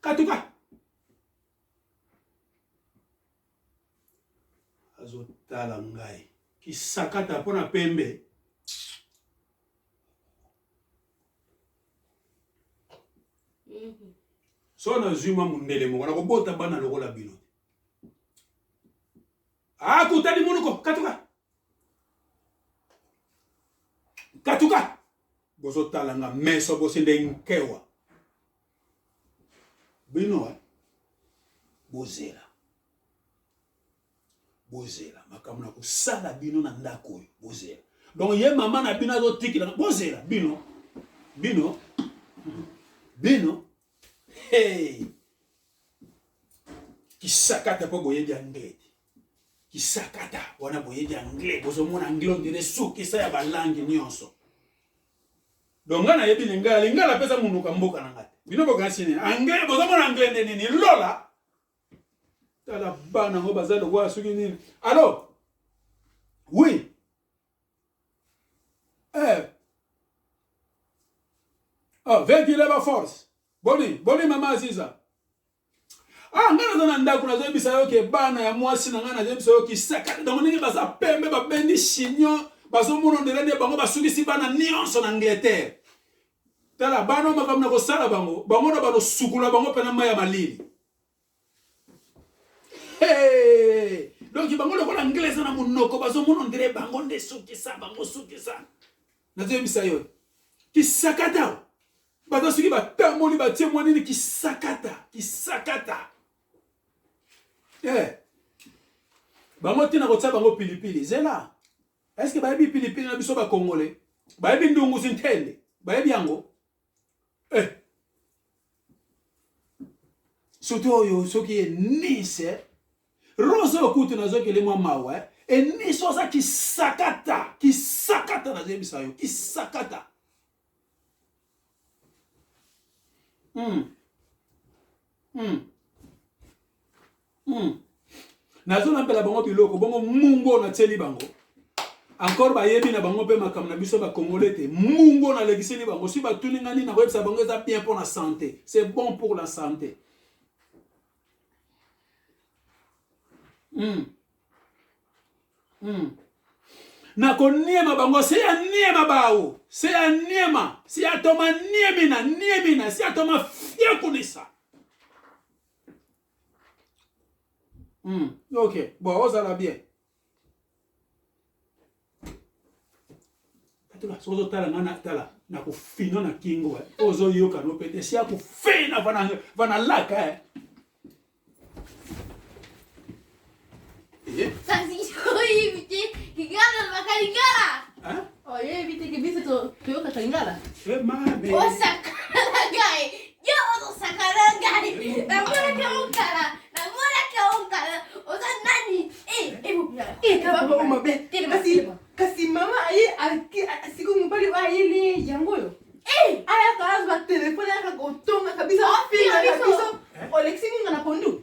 katuka azotala ngai kisakata mpo na pembe so nazwi mwa mondele moko nakobota bana lokola bino Ah, kutani munuko katuka katuka bozotala nga meso bosende nkewa bino eh? bozela bozela makambo na kosala bino na ndako oyo bozela donc ye mama na bino azotikela bozela bino bino bino hey! kisakata mpo boyebi anglais te kisakata wana boyebi anglais bozomona anglais ondire sukisa ya balangi nyonso donc ngai nayebi lingala lingala mpe eza monuka mboka na ngai te bino bokanisi nini anglais bozomona anglais nde nini lola tala bana yango baza lokola soki nini alors oui eh oh vedi leba force boni boni mama aziza ah ngai naza na ndako nazoyebisa yo ke bana ya mwasi na ngai nazoyebisa yo kisakani bango ndenge baza pembe babendi chignon bazomona ondele nde bango basukisi bana nyonso na angleterre tala bana oyo makambo na kosala bango bango na banosukula bango mpena mai ya malili Hey! Donc bango lokola anglais eza na monoko bazomona ndire bango nde sukisa bango sukisa nazoyebisa yo kisakata baza soki batamboli batie mwa nini kisakata kisakata hey! Eh! bango ntina kotia bango pilipili zela eske bayebi pilipili na biso bakongole bayebi ndungu sintende bayebi yango eh. surtout oyo soki ye nice rose oyo kutu nazokeli mwa mawa eh. eniso aza kisakata kisakata nazoyebisa yo kisakata mm. Mm. hmm. nazolambela bango biloko bongo mungu oyo natieli bango encore bayebi na bango mpe makambo na biso bakongole te mungu oyo nalekiseli bango si batuni ngai nini nakoyebisa bango eza bien mpo na sante c'est bon pour la sante mm. Mm. nakoniema bango se ya niema bawo se ya niema se ya toma niemina niemina se ya toma fiekunisa Mm. Ok, bon, ozala bien. Atula, soki ozotala nga na tala na kofino na kingo eh. ozoyoka no pete esi ya kofina vana laka eh. kasi mama aye siko mobali oyo ayeli yango oyo eh! ayaka azwa telefone ayaka kotonga kabisa ofinga biso olekisi ngunga na pondu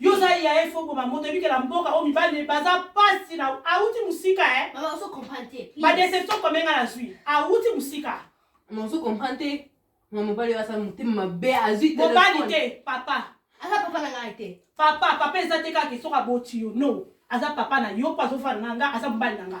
yo oza yaye fo boma moto ebikela mboka oyo mibali baza mpasi na awuti mosika e badeception kome nga nazwi awuti mosika ozo comprendre te na mobali oyo asala motema mabe azwi mobali te papa aza papa na ngai te papa papa eza te kaka soki aboti yo no aza papa na yo mpo azofana na nga aza mobali na nga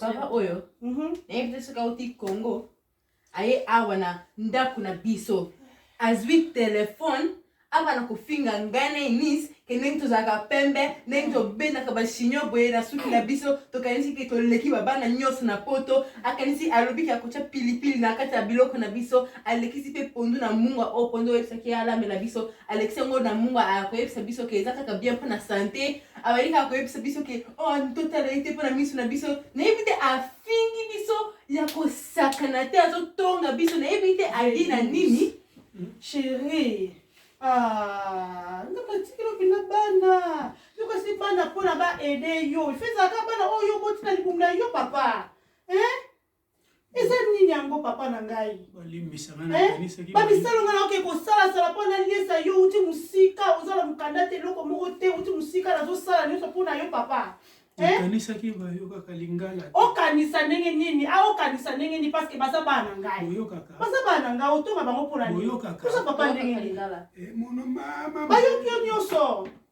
papa oyo nayebi te soki auti congo aye awa na ndako na biso azwi telefone abana kofinga ngai na enise ke ndenge tozalaka pembe ndenge tobendaka bashinio boye na suki na biso tokanisi ke toleki babana nyonso na poto akanisi alobi ke akotya pilipili na kati ya biloko na biso alekisi mpe pondu na mungwa oyo pondu oyebisaki ye alamela biso alekisi yango na mungwa akoyebisa biso ke eza kaka bien mpo na sante abalingi kaka koyebisa biso ke o oh, totala ye te mpo na miso na biso nayebi te afingi biso ya kosakana te azotonga biso nayebi te ali na nini chérie ah, nzoka tikelo mpenza bana nzoka si bana mpona baede yo ifezalaka bana oyo obotina libumu na yo papa eh? eza nini yango papa na ngai bamisalo ngai naoke kosalasala mpo naliesa yo uti mosika oza na mokanda te eloko moko te uti mosika nazosala nyonso mpo na yo papa okanisaki bayokaka lingala okanisa ndenge nini aokanisa ah, ndenge nini parceke baza bana na ngai oyokaka baza bana na ngai otonga bango mpo na nini oyokaka oza papa ndenge nini eh, bayoki yo nyonso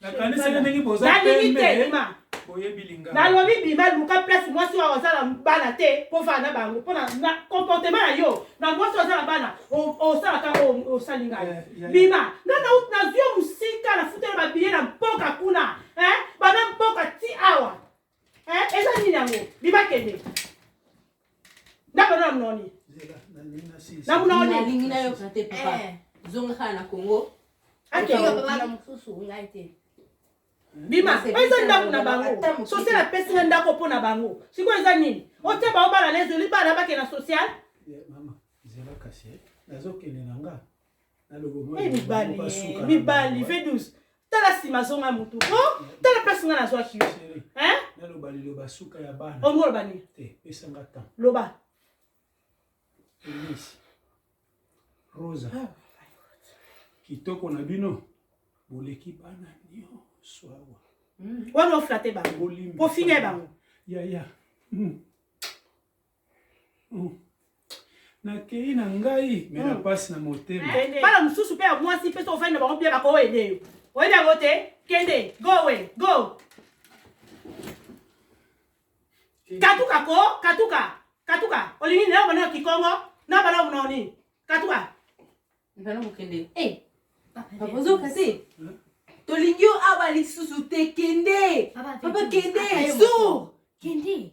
nakanisaki ndenge boza nalingi te bima boyebi lingala nalobi bima luka place mwasi oyo aza na bana te kofana na bango mpo na comportement na yo na mwasi oyo aza na bana osalaka osali ngai bima nga nazwi yo mosika nafutela babiye na mpoka kuna bana mpoka ti awa Eh, eza nini yango bima kende ndako na mnoni na mnoni nalingi nayoka te papa eh. zonga kaka na kongo bima eza ndako na bango social apesi nga ndako mpo na bango sikoyo eza nini otie baobala na ezoli bana bakenda social eh. nazokende na nga Eh, mibali eh, mibali v12 tala nsima azonga motu o oh, tala place ngai nazwaki yo naloba liloba suka ya bana olingi oh, oloba nini eh, pesanga temps loba elise rosa ah, kitoko na bino boleki bana nyonso awa hmm. wana oflate bango kofinga bango yaya hmm. nakeyi na ngai me na mpasi na motema bana mosusu mpe ya mwasi mpe soki ofandi na bango bia bakoyede yo oyebi yango te kende go we go katuka ko katuka katuka olingi nao bana ya kikongo na bana ya monao nini katuka bana mokende eh, ozoka te tolingi yo awa lisusu te kende papa kende sur kende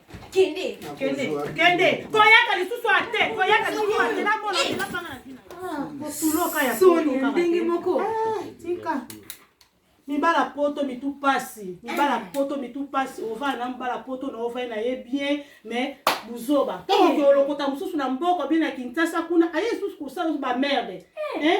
kende kende kende koyaka lisusu ate koyaka lisusu ate na mona na panga na tina ah, kotuloka ya soni ndenge moko ah, tika mibala poto mitu pasi mibala eh. poto mitu pasi ovanda na mibala poto na ovai na ye bien mais buzoba ntango eh. olokota mosusu na mboka bie na kinshasa kuna aye lisusu kosala bamerde eh.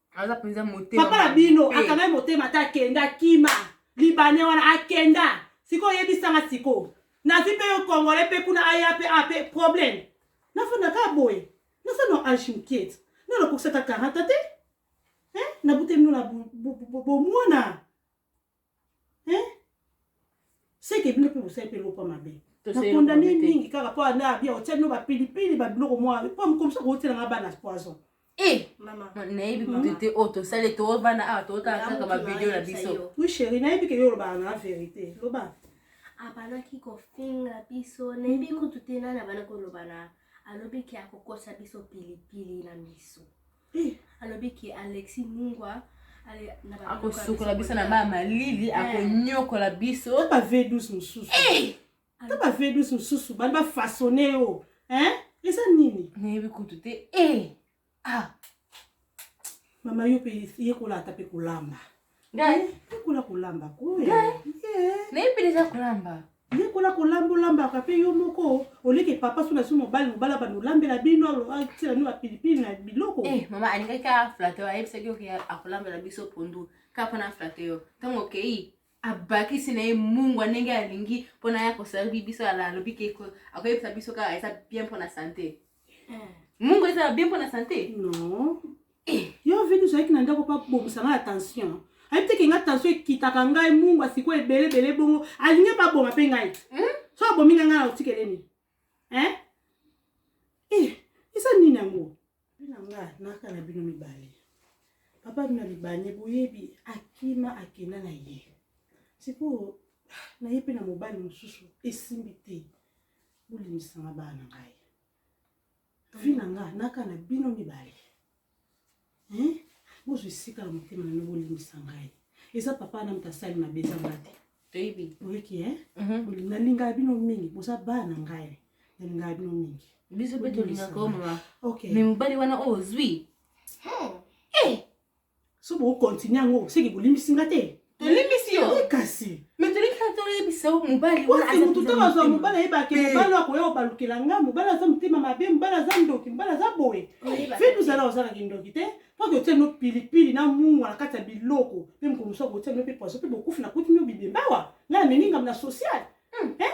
aza mpenza motema papa na bino akangai motema ata akenda kima libane wana akenda sikoyo oyebisanga sikoyo nazwi mpe yo congolais mpe kuna aya mpe a mpe problème nafanda kaka boye naza no age mokiete no nakokisaka karata te nabuteli no na bomwana hein seke bino mpe bosali mpe eloko mabe nakondane mingi kaka mpo ana abia otya bino bapilipili babiloko mwa mpo komisa kootela nga bana poison eh, nayebi kutu te oyo tosali toovanda awa tootala kaka bavideo na biso wi sheri nayebi ke yo olobaka na verité loba abandaki kofinga biso nayebi kutu te nani abandaki koloba na alobi ke akokosa biso pilipili na miso alobi ke alexi mungwa akosukola biso na baa malili eh. akonyokola biso ta bavedus mosusu eh! ta bavedus mosusu bani bafasone yo eza nini nayebi kutu te eh! ah. mama yo mpe yekola ata mpe kolamba Ngai yekola kolamba ko ngai nayebi deja kolamba yekola kolamba olambaka mpe yo moko oleke papa so nasi mobali mobali abanda olambela bino atyela bino bapilipili na biloko eh, mama alingaki aflate ayebisaki oke akolambela biso pondu kaka mpona aflate yo ntango okei abakisi na ye mungwa ndenge alingi mpona ya koservi biso ala alobi ke akoyebisa biso kaka eza bien mpona sante eh. mungwa ezala bien mpona sante non Eh, yo Venus ayaki na ndako pa bobisa nga na tension. Ayebi te ke nga tension ekitaka ngai mungu asiko ebele ebele bongo. Alingi pa boma pe ngai. Hmm? So abomi nga nga na otikele ni. Hein? Eh, esa nini yango? Bina nga naka na bino mibale. Papa bina libane boyebi akima akenda na ye. Siko na ye pe na mobali mosusu esimbi te. Bolimisanga bana ngai. vie na nga naka na bino mibale hein bozwa esika na motema na bino bolimbisa ngai eza papa na moto asali mabe eza nga te toyebi oyeki hein mhm. nalingaka bino mingi boza bana na ngai nalingaka bino mingi biso mpe tolingaka omama me mobali wana oyo ozwi so boko continue yango seke bolimbisi nga te tolimbisi yo eh, kasi mais tolingi kaka toyebisa yo mobali motu ntango azwa mobali ayebake eh. mobali akoya kobalukela nga mobali aza motema mabe mobali aza ndoki mobali aza boye fi tozala ozala kindoki te mpo totia no pilipili na mungwa na kati ya biloko mpe mokolo mosusu akotia no mpe poison mpe bokufi na kuti mio bibembawa ngai amemi ngambo na sociale hmm. eh?